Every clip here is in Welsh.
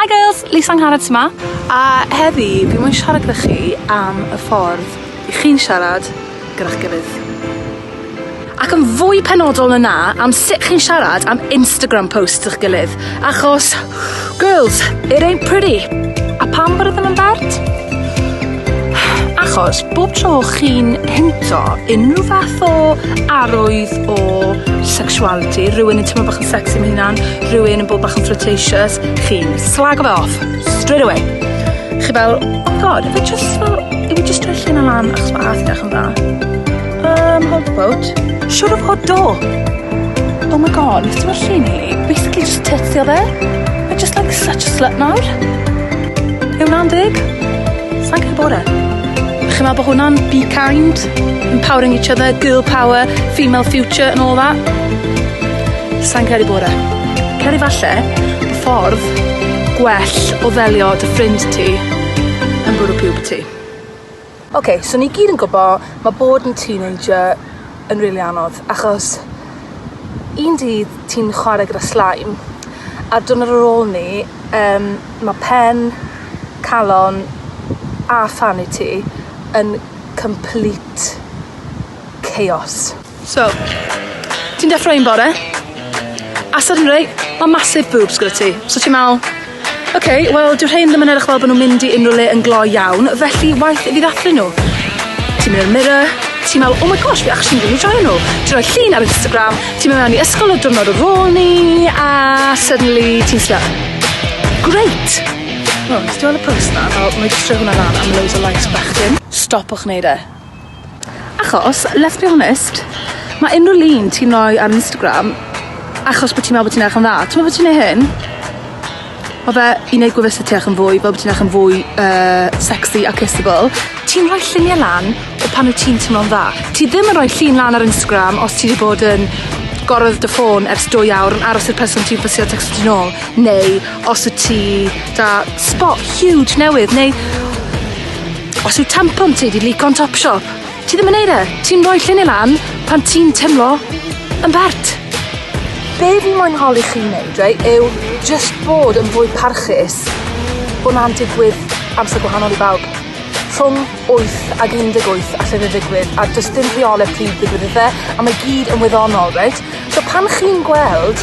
Hi girls, Lisa Angharad yma. A heddi, fi mwyn siarad gyda chi am y ffordd i chi'n siarad gyda'ch gilydd. Ac yn fwy penodol na na, am sut chi'n siarad am Instagram posts ych gilydd, achos Girls, it ain't pretty. A pam bod ydyn nhw'n bert? Achos bob tro chi'n hinto unrhyw fath o arwydd o sexuality, rhywun yn teimlo bach yn sexy am hynna'n, rhywun yn bod bach yn flirtatious, chi'n slago fe off, straight away. Chi fel, oh god, if it just, if we just drwy llun o lan achos mae ath yn dda. Um, hold the boat. Siwr o fod do. Oh my god, ti'n meddwl llun i? Basically just tits o fe. I just like such a slut nawr. Yw na'n dig? Sa'n cael bore? Chi'n meddwl bod hwnna'n be kind, empowering each other, girl power, female future and all that? Sa'n cael ei bore. Cael ei falle, y ffordd gwell o ddelio dy ffrind ti yn bwrw pub ti. Ok, so ni gyd yn gwbo ma' bod yn teenager yn rili anodd achos un dydd ti'n chware gyda slime a'r diwrnod ar ôl 'ny yym ma' pen, calon a fanity yn complete chaos. So, ti'n deffro un bore, a suddenry, ma' massive boobs gyda ti, so ti'n me'wl, ok, wel dyw rhein ddim yn edrych fel bo' nw'n mynd i unryw le yn gloi iawn, felly waeth i fi ddathlu nw. Ti'n mynd i'r mirror, ti'n me'wl, oh my gosh, fi actually myn' i joio nw. Ti'n rhoi llun ar Instagram, ti'n mynd mewn i ysgol y diwrnod ar ôl 'ny, a suddenly ti'n slut. Grêt! Wel, nes ti weld y post 'na, fel, 'nai jyst rhoi hwnna lan am loads o likes bechgyn. Stopiwch neud e. Achos, let's be honest, ma' unrhyw lun ti'n roi ar Instagram achos bod ti'n meddwl bod ti'n edrych yn dda. Ti'n meddwl bod ti'n neud hyn? Ma' fe i neud gwefus y tu allan fwy fel bo' ti'n edrych yn fwy yy sexy a kissable. Ti'n rhoi llunie lan o pan wyt ti'n timlo'n dda. Ti ddim yn rhoi llun lan ar Instagram os ti 'di bod yn gorwedd dy ffôn ers dwy awr yn aros i'r person ti'n fysio tecsto ti nôl neu os wt ti 'da sbot huge newydd neu Os yw tampon ti 'di lico'n Topshop, ti ddim yn neud e. Ti'n roi llinyn lan pan ti'n timlo yn bert. Be' fi moyn holi chi neud reit yw jyst bod yn fwy parchus bo' 'na'n digwydd amser gwahanol i bawb. Rhwng wyth ag un deg wyth alle fe ddigwydd a do's dim rheole pryd ddigwydd iddo fe a mae gyd yn wyddonol reit? So pan chi'n gweld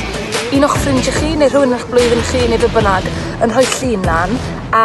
un o'ch ffrindie chi neu rhywun yn 'ych blwyddyn chi neu be' bynnag yn rhoi llun lan a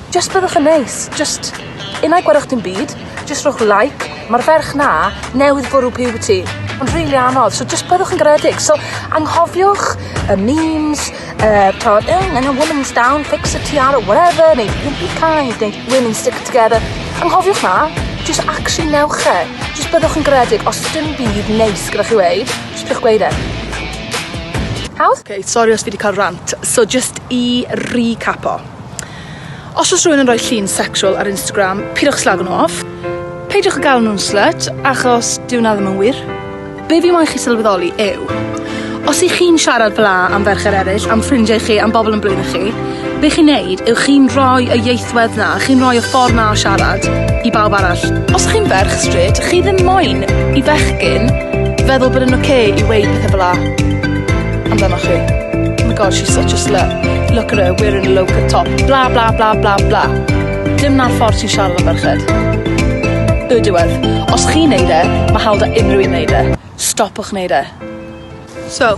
Jyst byddwch yn neis. Jyst unai gwerwch dim byd, jyst rhowch like. Mae'r ferch na newydd bwrw puberty. Mae'n rili really anodd, so jyst byddwch yn garedig. So anghofiwch y memes, uh, tod, oh, and a woman's down, fix a tiara, whatever, neu don't be kind, neu women stick together. Anghofiwch na, jyst actually newch e. Jyst byddwch yn garedig, os dim byd neis gyda chi weid, jyst byddwch gweud e. Hawdd? Okay, sorry os fi wedi cael rant. So just i recapo. Os oes rhywun yn rhoi llun sexual ar Instagram, pidwch slago nhw off. Peidiwch â galw nhw'n slut, achos dyw 'na ddim yn wir. Be' fi moyn chi sylweddoli yw, os 'ych chi'n siarad fel'a am ferched eryll, am ffrindiau chi, am bobl yn blino chi, be' chi'n neud yw chi'n rhoi y ieithwedd 'na, chi'n rhoi y ffordd 'na o siarad i bawb arall. Os 'ych chi'n ferch strêt, chi ddim moyn i fechgyn feddwl bod e'n ocê i weud pethe fel'a. Amdanoch chi. Oh my god, she's such a slut. Look at her, wearing a low cut top. Bla bla bla bla bla. Dim na'r ffordd ti'n siarad am ferched. Y diwedd. Os chi'n neud e, mae hawl da unrhyw un neud e. Stopwch neud e. So,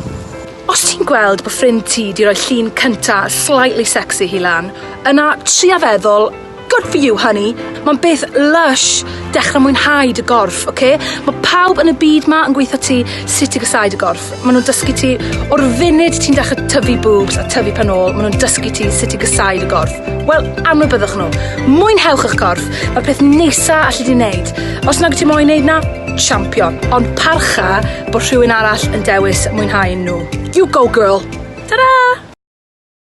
os ti'n gweld bod ffrind ti di roi llun cynta slightly sexy hi lan, yna tria feddwl Good for you, honey. Mae'n beth lush. Dechrau mwynhau dy gorff, oce? Okay? Mae pawb yn y byd ma yn gweithio ti sut i gysau dy gorff. Maen nhw'n dysgu ti o'r funud ti'n dechrau tyfu boobs a tyfu pan ôl, maen nhw'n dysgu ti sut i gysau dy gorff. Wel, anwybyddwch nhw. Mwynhewch eich corff. Mae'r peth neisa allu di wneud. Os nag ti moyn wneud na, champion. Ond parcha bod rhywun arall yn dewis mwynhau nhw. You go, girl. Ta-da!